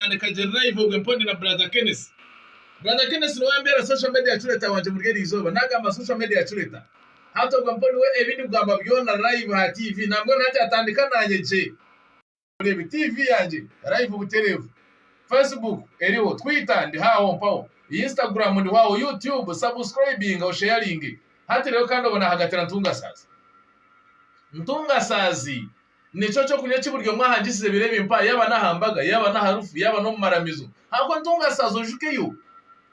Nandeka gye live obwe mpondi na brother Kenneth. Brother Kenneth nowe ambera social media curator wangye omuri eri izooba. Nagamba social media curator. Hati obwe mpondi we ebi ndikugamba byona live ha TV nambwenu hati atandika nanye gye. Mureebe TV yangye live buterevu. Facebook eriho, Twitter ndiho aho mpaho, Instagram ndiho aho, You Tube subscribinga osharinge. Hati rero kandi obwe nahagatira ntunga saazi. Ntunga saazi. Nikyo ky'okurya eki buri omwe ahangisize ebiro ebi mpa, yaaba n'aha mbaga, yaaba n'aharufu, yaaba n'omu maramizo. Ahakuba ntungasaazi ojukeyo,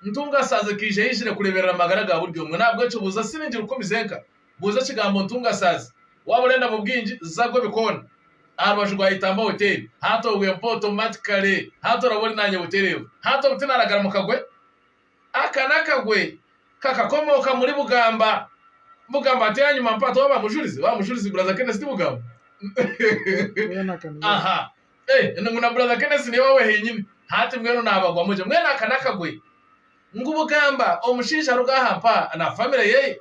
ntungasaazi ekaija yaizire kureeberera amagara ga buri omwe. N'ahabw'ekyo buuza siringi rukumi zenka, buuza ekigambo ntungasaazi. Waaba orenda mu bwingi, za gwe bikoona aha rubaju rwa Itamba Hoteeri, hati ogwe mpa otomati kare, hati oraba ori naanye butereevu. Hati obu tinaaragara mu kagwe? Aka n'akagwe kakakomooka omuri Bugamba. Bugamba ati ahanyima mpaata owa ba Mujurizi, owa Mujurizi buraza Kenesi ti Bugamba. Aha, eh, ngu na buraza Kenesi niwe wawe henyini. Hati mbwenu naabagwamu gye. Mbwenu aka n'akagwe ngu Bugamba omushaija aruga aha mpaha na famire yeye.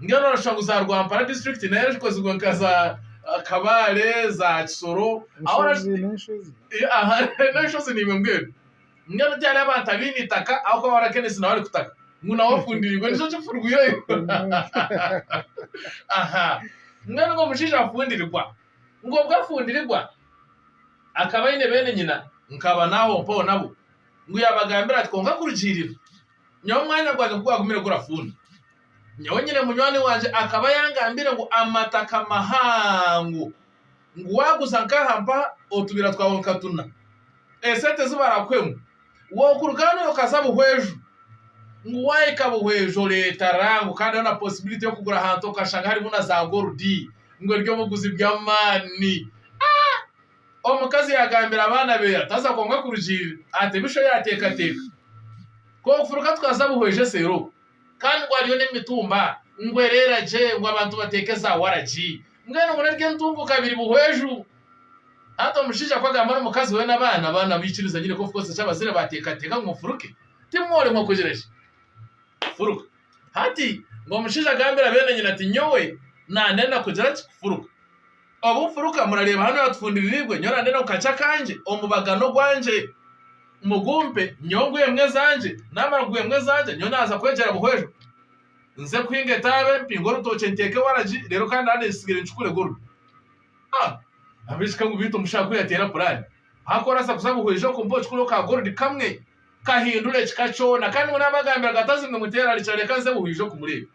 Mbwenu orashusha ngu za Rwampara district nayo erikozirwe nka za ah, Kabale, za Kisoro. Aho Enshozi orashusha- n'enshozi. Eh, aha, n'enshozi niimwe mbwenu. Mbwenu tihariho abantu abaine itaka ahabw'okuba barakenisi nawe arikutaka. Ngu nawe ofundiirwe nikyo kifurwireyo. Aha. Mbwenu ngu omushaija afundirigwa. Ngu obwo afundirigwa, akaba aine beene nyina, nkaba naaho mpaho nabo. Ngu yaabagambira ati, Kwonka kurugiirira, Nyowe omwanya gwangye ku gwagumire gurafuunda, nyowe nyine munywani wangye akaba yangambiire ngu amataka mahango ngu waaguza nk'aha mpaha otubiira twawe nka tuna esente ezi barakuhemu wookuruga hanu okaza Buhweju ngu waahika Buhweju oreeta rango kandi hariho na posibiliti y'okugura ahantu okashanga harimu na zaagorudi ngu ery'obuguzi bw'amaani. Omukazi yaagambira abaana be ati, Haza kwonka kurugiirira aha temisho yaateekateeka. K'ofuruka tukaza buhwezi eseeri oku. Kandi ngu hariyo n'emitumba, ngu ereera gye, ngu abantu bateeke za waragi. Mbwenu ngu naryo entunguuka abiri buhweju. Hati omushaija ku agamba n'omukazi we n'abaana, abaana baikiriza nyine k'ofuruka oze eki abazaire baateekateeka ngu ofuruke. Timworemwa kugira ki? Kufuruka. Hati, ngu omushaija agambira beene nyina ati, Nyowe naandenda kugira ki? Kufuruka. Obu mfuruka, murareeba hanu ahatufundiriirwe, nyowe nande n'omukachi akangye, omubaga n'ogwangye. Mugumpe, nyowe nguhe embwa ezangye, naamara kuguha embwa ezangye, nyowe naaza kwegyera buhweru. Nze kuhinga etaabe, mpinge orutookye nteeke waragi, reero kandi hanu ekitsigire nkikure gulu. Ah! Ab'ekiika ngu beitu omushaho ku yateera puraani, haku oraasa kuza buhweru ija kumpa okikuro ka goludi kamwe kahindura ekika kyona kandi ngu naabagambira ngu atazi ngu nimuteera arikira reka nze buhweru ija kumureeba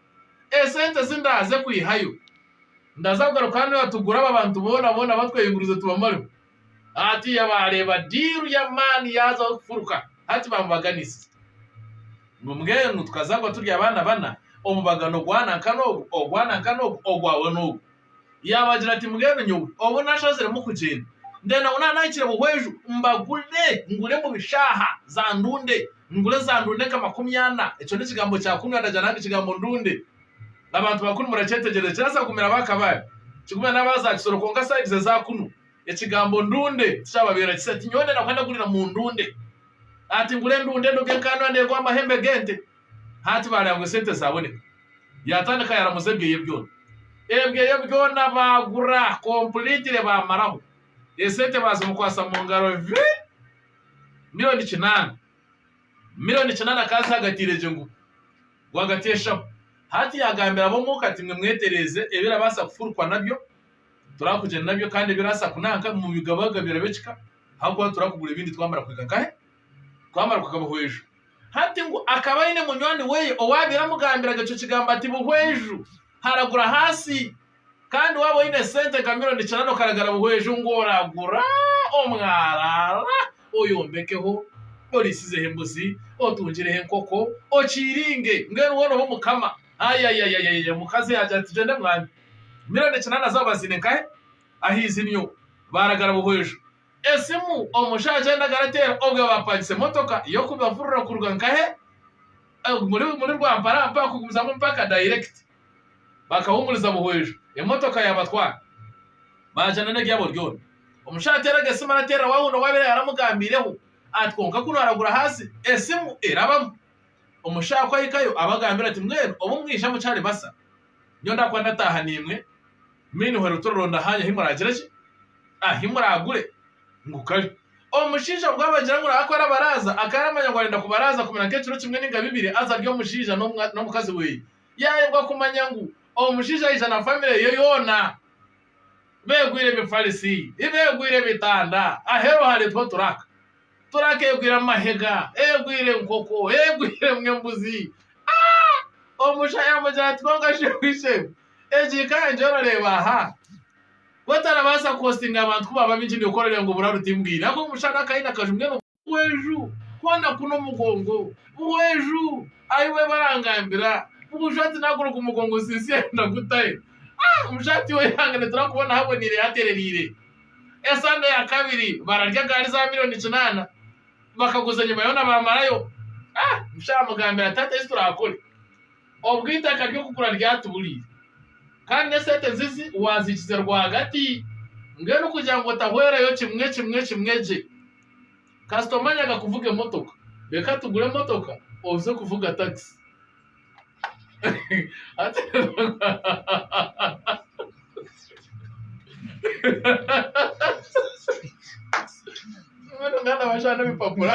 esente ezi ndaaze kwihayo. Ndaza kugaruka hanu aha tugure aba bantu boona boona batwehingurize tubamareho. Hati yabaareeba diiru y'amaani yaazaho kufuruka. Hati baamubaganisiza. Ngu mbwenu tukazaagwa turi abaana bana, omubagano gwana nka n'ogu, ogwana nka n'ogu, ogwawe n'ogu. Yaabagira ati, Mbwenu nyowe obu nashaziremu kugyenda, ndenda ngu naanahikire buhweju mbagure, ngure mu bishaaha za ndunde, ngure za ndunde nka makumi ana. Ekyo n'ekigambo kya kumi, andagira nange ekigambo ndunde. nabantu bakunu murakyetegereza kirabaasa kugumira aba kabale kigumire naba za kisoro kwonka sides eza kunu ekigambo ndunde tikyababeera kisa ati nyowe ndenda kuba ndagurira mu ndunde hati ngure endunde enu gen kandi noba negura amahembe gente hati bareba ngu esente zaboneka yatandika yaramuza ebyeye byona ebyeye byona bagura completely bamaraho esente bazimukwasa mungaro vi miriyoni kinaana. Mironi kina na kansa agataire gye ngu, Rwagati y'eshaho. Hati yaagambira ab'omuka ati, Mwe mwetereeze ebirabaasa kufurukwa nabyo, turakugyenda nabyo kandi ebiraasa kunanka mu bigabagabira by'ekika, ahakuba turakugura ebindi twamara kuhika nkahe? Twamara kuhika Buhweju. Hati ngu akaba aine munywani weye owaabaire amugambiraga ekyo kigambo ati Buhweju, haragura ahansi. Kandi waaba oine esente nka mironi kinaana okaragara buhweju ngu oragura omwaraara oyombekeho, oriisizeho embuzi, otungireho enkoko, okiiringe mbwenu woona obe omukama. Ayayayayaya omukazi yaagira ati, Tugyende mwami. Mironi kinaana zaaba baziine nkahe? Aha izinyo baaragara buhweju. Esimu omusha agyenda agarateera obwe baapangisa emotoka y'okubavurira kuruga nkahe? Omuri Rwampara mpaha kugumizamu mpaka dayirekiti. bakahumuriza buhwiju emotoka yabatwara baagyana n'ebyabo byona. Omushaija ateeraga esimu arateerera waahunda owaabaire yaaramugambaireho ati, Kwonka ku naaragura ahansi, esimu erabamu. Omushaaha ku ahikayo abagambira ati, Mbwenu obu mwija mukyari basa, nyowe ndaakuba ndataaha naimwe Minho Rutororo ndahaanya ahi muraagire ki? Ahi muraagure ngu kare. Omushaija obwo abagira ngu nawe aku arabaraaza, akaaramanya ngu arenda kubaraaza kumira nk'ekiro kimwe nainga bibiri aza arye omushaija n'omukazi we. yaayebwa kumanya ngu omushaija aija na famire ye yoona beegwire ebifarisi, beegwire ebitanda, aheeru hareetwa turaka, turaka egwire amahega, egwire enkoko, egwire emwe embuzi. Ah! Omusha yaamugira ati, Kwonka shebuja egu, egi ka enje orareeba aha, ku otarabaasa kuhostinga abantu ku baaba baingi, nikwo orareeba ngu oburaru timbwine. Ahabw'okuba omushana akaine akaju mbwenu. Buhweju kwona kunu omugongo Buhweju ayi we barangambira Buhweju ati nagura ogu mugongo Sisya ayi ndagutahe Ah omushati we yange niturikubona ahaboniire haterereire Esande ya kabiri bararya gaari za miriyoni kinaana Bakaguza enyima yoona bamarayo Ah omushaija amugambira ati hati eki turakore Obwe eitaka ry'okugura ryatuburiire kandi n'esente nzizi waziikize rwagati mbwenu kugira ngu otahwereyo kimwe kimwe kimwe gye. Kasita omanyaga kuvuga emotoka, reka tugure emotoka oze kuvuga takisi. Mbwenu mwana wa shana ebipapura.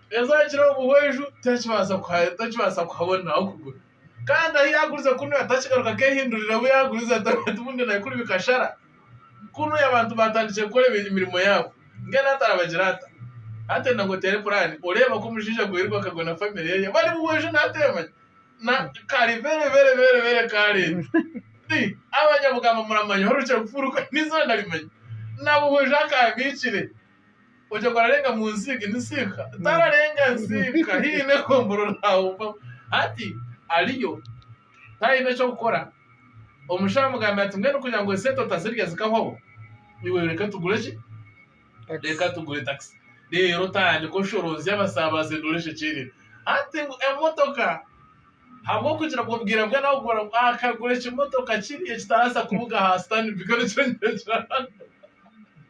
Yesu akira omu bwojo takibaasa kuhabona ah'okugura. Kandi ahu yaagurize kunu atakigaruka keehindurira obu yaagurize ati bundi naikuru bikashara. Kunu abantu baatandikire kukora emirimo yaabo. Mbwenu hati arabagire ata? Hati oine ngu oteere puraani oreeba ku omushaija gwairuka akagwa na famire ye bari mu bwojo nawe teemanya? Na kare bere bere bere bere kaareedi. Ti abanyabugamba muramanya orukire kufuuruka n'eizooba narimanya? Na bwojo akaabikire. Ogira ngu ararenga mu nziika, ni ziika? Tararenga ziika, haine egombora orahumba. Hati ariyo taine eky'okukora, omushaija amugambira ati, Mbwenu kugira ngu esente otazirya zikahwaho, iwe reka tugure ki? Reka tugure takisi. Reero otandike oshoroozye abasaabaze ngu oreeshe ekyererezi. Hati ngu emotoka, ahabw'okugira ngu obwire bwe naabubara, ngu akagura ekimotoka kiri ekitarabaasa kubuga aha sitaani, bikaba nikyo nkiregira hanu.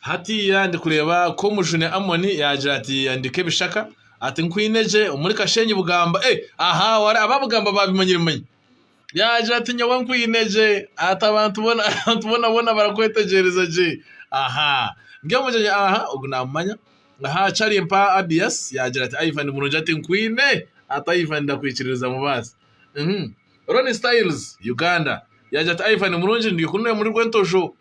Hatiiya ndi kureeba ku omujune Amoni yaagira ati, Handika ebishaka, ati, Nkwine gye omuri Kashenyi Bugamba. Ee, aha, wara aba Bugamba baabimanyire manya. Yaagira ati, Nyowe nkwine gye, ati, Abantu boona, abantu boona boona barakwetegyereza gye. Aha, ndi omugyenyi aha, ogu naamumanya. Aha, Charlie mpa Abiyasi. Yaagira ati, Ivan murungi, ati, Nkwine, ati, Ivan ndakwikiririza mubaasi. Uhmm. Ronnie Styles, Uganda, yaagira ati, Ivan murungi, ndi kunu n'oyo muri Rwentosho.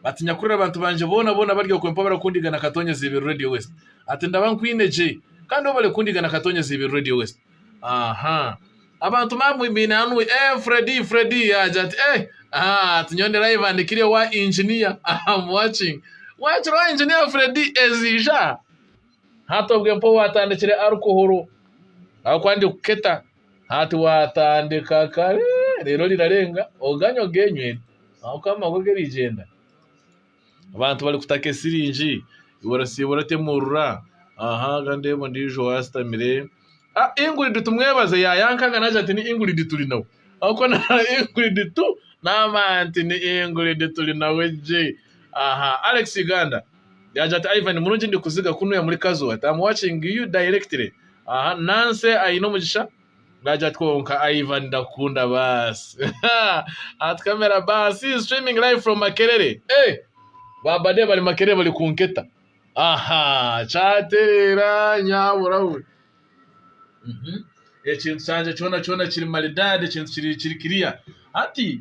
Ati, Nyakurira abantu bangye boona boona bari okwe mpabara kundiga na Katonya Ziibiri Radio West. Ati, Ndaba nkwine gye. Kandi obare kundiga na Katonya Ziibiri Radio West. Aha! Abantu mamu mbaine hanu, Eeh Freddie, Freddie! Yaagira ati, Eeh! Aha! Ati, Nyowe ndi live and clear owa Engineer. Am watching. Waakira owa Engineer Freddie eziija? Hati obwe mpaho atandikire alcohol ahabw'okuba ndi kuketa. Hati watandika kare reero rirarenga oganye ogenywe ahabw'okuba amagwe garigyenda. Abantu barikutaka esiringi iwe orasiibura oti emuurura aha haza ndeeba ondiijo ashutamire ah Ingrid tumwebaze yaayankanga naagira ati ni Ingrid turi nawe ahabw'okuba na Ingrid tu n'amaani nti ni Ingrid turi nawe gye aha Alex Uganda. Yaagira ati, Ivan, murungi ndikuziga ku nooya muri Kazo. Ati, I'm watching you directly. Aha, Nancy aine omugisha. Naagira ati, Kwonka Ivan ndakukunda baasi. Ati, Kamera baasi is streaming live from Makerere. Hey! Ba bade bari Makerere bari kunketa. Aha! Kyatereera nyabura we. Mhm. Ekintu kyangye kyona kyona kiri maridaadi, ekintu kiri kiri kiriya. Hati!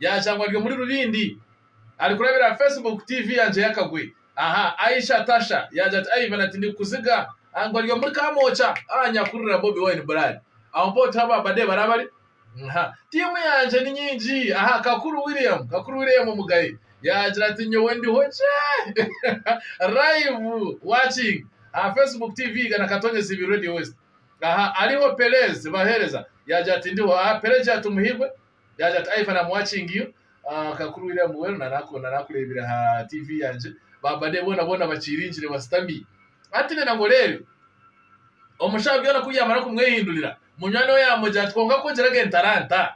Yaashangwa ari omuri Rubindi ari kurabira aha Facebook TV ya Njeya Kagwe. Aha Aisha Tasha yaagira ati, Ivan ati ndikukuziga aha ngu ari omuri Kamwokya aha nyakurira Bobi Wine Bulali. Aho mpaho tihaabo abade bari abari aha. Tiimu yangye ni nyingi aha. Kakuru William Kakuru William Mugaye yaagira ati, Nyowe ndiho gye live watching aha Facebook TV Igana Katonyezi Ibiri Radio West. Aha Ariho Pelez Bahereza yaagira ati, Ndiho aha Pelagiat Muhirwe Yaagira ati, Ivan, I'm watching you. Ah, ka kuri William Muwero, naraku- narakureebire aha TV yangye. Ba bade boona boona bakiiringire bashutami. Hati nenda ngu oreebe. Omu shaaha byona ku byamara kumwehindurira, munywani we yaamugira ati, Kwonka ku ogirege entaranta,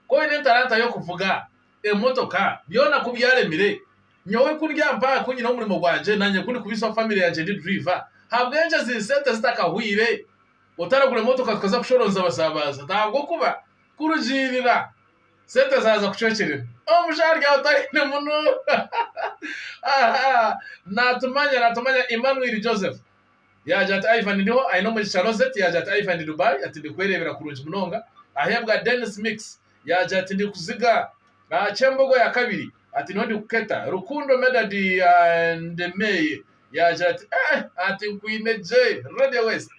ku oine entaranta y'okuvuga, emotoka, byona ku byaremire, nyowe ku ndi aha mpaha, ku nyine omurimo gwangye, naanye ku ndikubiisa famire yangye ndi driver, ahabw'enki ezi sente zitakahwaire, otaragura emotoka tukaza kushoroonza abasaabazi? Ati, Ahabw'okuba Kurugiirira, sente zaaza kucwekyerera, omusha aryaho otaine munu. Natumanya, natumanya. Emmanuel Joseph yaagira ati, Ivan ndiho, aine omugisha. Rosette yaagira ati, Ivan ndi Dubai, ati ndikwereebera kurungi munonga. Aheebwa Dennis Mix yaagira ati, Ndikuziga aha ky'embogo ya kabiri, ati niho ndikuketa. Rukundo Medard Ndemeye yaagira ati, Eeh, ati nkwine gye. Radio West.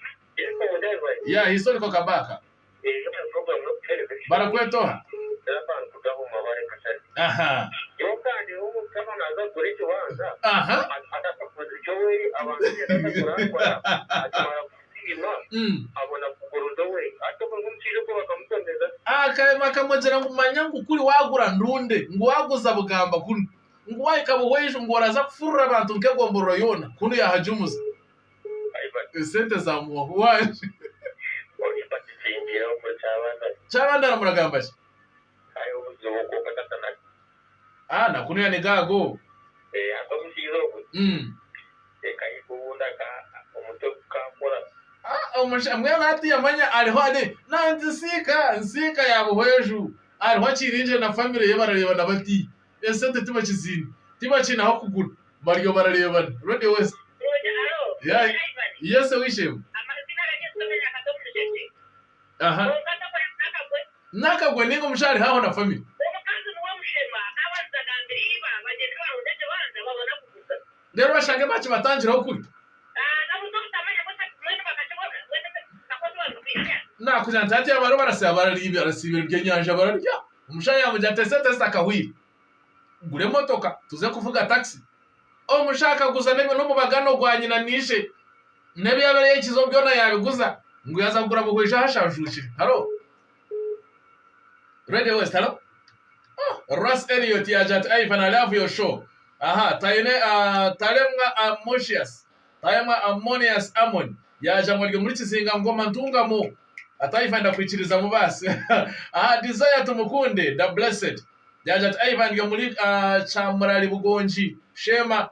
Historical Kabaka. Barakweta oha? Aha. Aha. Akahemu akamugira ngu manya ngu kuri waagura ndunde, ngu waaguza bugamba kunu, ngu waahika Buhweijo ngu oraza kufurira abantu nk'egomborora yoona kunu yaahajumuza. Esente za muhoho wangye. Kyabanda na muragamba ki? Ah na kunu yane ga go. Umm. Ah omusha mbwenu hati yamanya ariho ari nantisiika nsiika ya buhweju ariho akiringire na family ye bararebana bati. esente tibakizine tibakine ahokugura bariyo bararebana radio west yes owishemwe nakagwe ninga omusha ariho aho na family rero bashange bakibatangiraho kuri nakugira nti hati abariyo barasiba ebyenyanja bararya. Omushaija yaamugira ati, Esente zitakahwaire, gura emotoka tuze kuvuga takisi. Omushaija akaguza n'omubagano gwa nyina na ishe, n'ebi yaabaire yahikiizeho byona yaabiguza ngu yaaza kugura buhwezi ahu ashanjuukire. Haro? Radio West, haro? Oh, Russ Elliot yaagira ati, Ivan, I love your show. Aha, Taine, ah, Talemwa, ah, Moshias. Taayamwa Ammonius Ammon yaaja ngu arye omuri Kizinga Ngoma Ntungamo ati Ivan ndakwikirizamu baasi aha Desire Tumukunde Da Blessed yaaja ati Ivan ndya omuri Kyamurari Bugongi Sheema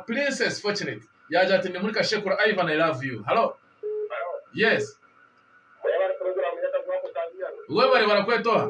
Princess Fortunate yaaja ati ndi omuri Kashekura Ivan I love you Hallo Yes Webare barakweta oha?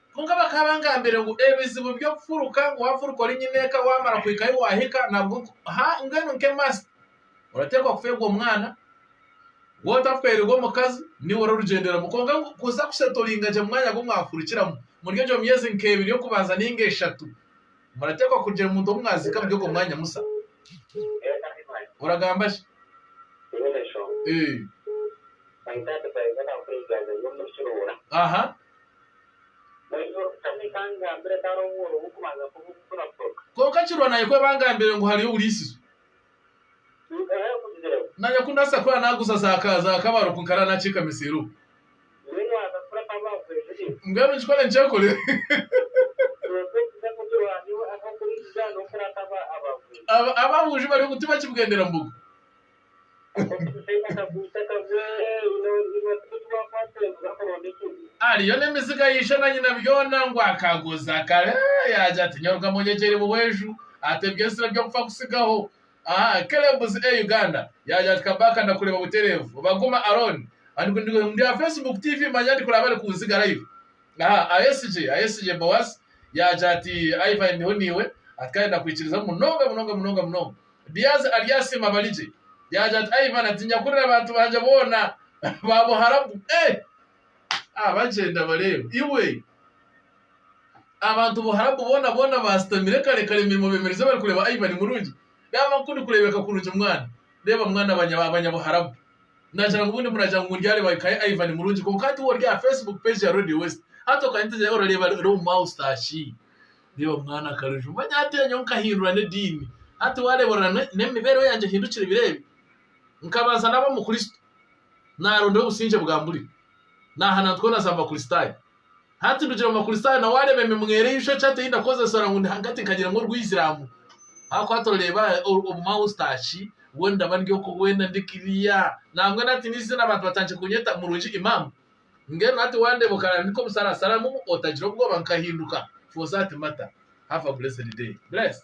Kwonka bakaba bangambire ngu ebizibu by'okufuruka ngu wafuruka ori nyineeka wamara kuhika ahi wahika nabwo ha mbwenu nke must oratekwa kufeerwa omwana waaba otafweerirwe omukazi niiwe ori orugyenderamu kwonka ngu kuza kusetoringa gye mumwanya ogu mwafurukiramu omuri egyo myeezi nka ebiri y'okubanza ninga eshatu muratekwa kugira omuntu ou mwaziika omuri ogwo mwanya musa oragamba ki? Aha. Kwonka kirwa naye ku ebangambire ngu hariyo oburiisizo. Naanye ku ndaasa kuba naaguza za kabaro ku nkarara naakiikama eseeri omu. Mbwenu nkikore nkyekore. Ab'abuju bari omu tibakibwendera mbogo. Ariyo n'emiziga ya ishe na nyina byona ngu akaguza kare yaagira ati, Nyoruka Munyegyeri Buhweju ata eby'ensiri eby'okufa kutsigaho aha Kelebs e Uganda? Yaagira ati, Kabaka ndakureeba butereevu. Baguma Aron, Ndi aha Facebook, TV manya ndi kuraaba ari kunziga live aha Ahesigye Ahesigye Boaz yaagira ati, Ivan ndiho naiwe ati kandi ndakwikiriza munonga munonga munonga munonga. Biazi aryasiima abarigye, yaagira ati, Ai baana, tiinya kurira abantu bangye boona ba buharabu. Ee! A Bagyenda bareeba, iwe! Abantu buharabu boona boona baasitamire kare kare emirimo beemererize barikureeba ai bari murungi. Reeba ku ndikureebeka kurungi mwana! Reeba mwana abanyabuharabu. Naagira ngu bundi muraagira ngu ndyareeba eka ya Ivan murungi kwonka hati woori aha Facebook page ya Radio West. Hati okaanya oti orareeba reero omu maustashi. Reeba omwana akarijo manya hati nyowe nkahindura n'ediini. Hati waareeba orora n'emibeereho yangye ehindukire ebiro ebi? Nkabanza naaba Omukristo, naarondayo obusingye bwa mburi, naahana nti koona za Abakristaayo. Hati ndugire omu Bakristaayo na waareeba emimwera eishokye hati ei ndakozesa ora ngu ndi hagati nkagira ngu orw'Eisiramu. Ahakuba hati oreeba omu Austaki mbwenu ndaba ndi oku weena ndi kiriya. Nambwenu hati n'eiziina abantu batandikire kunyeta murungi Imam. Mbwenu hati wandeeba okarambika omusarasaramu otagira obwoba nkahinduka, Fosa ati Mata, have a blessed day. Bless.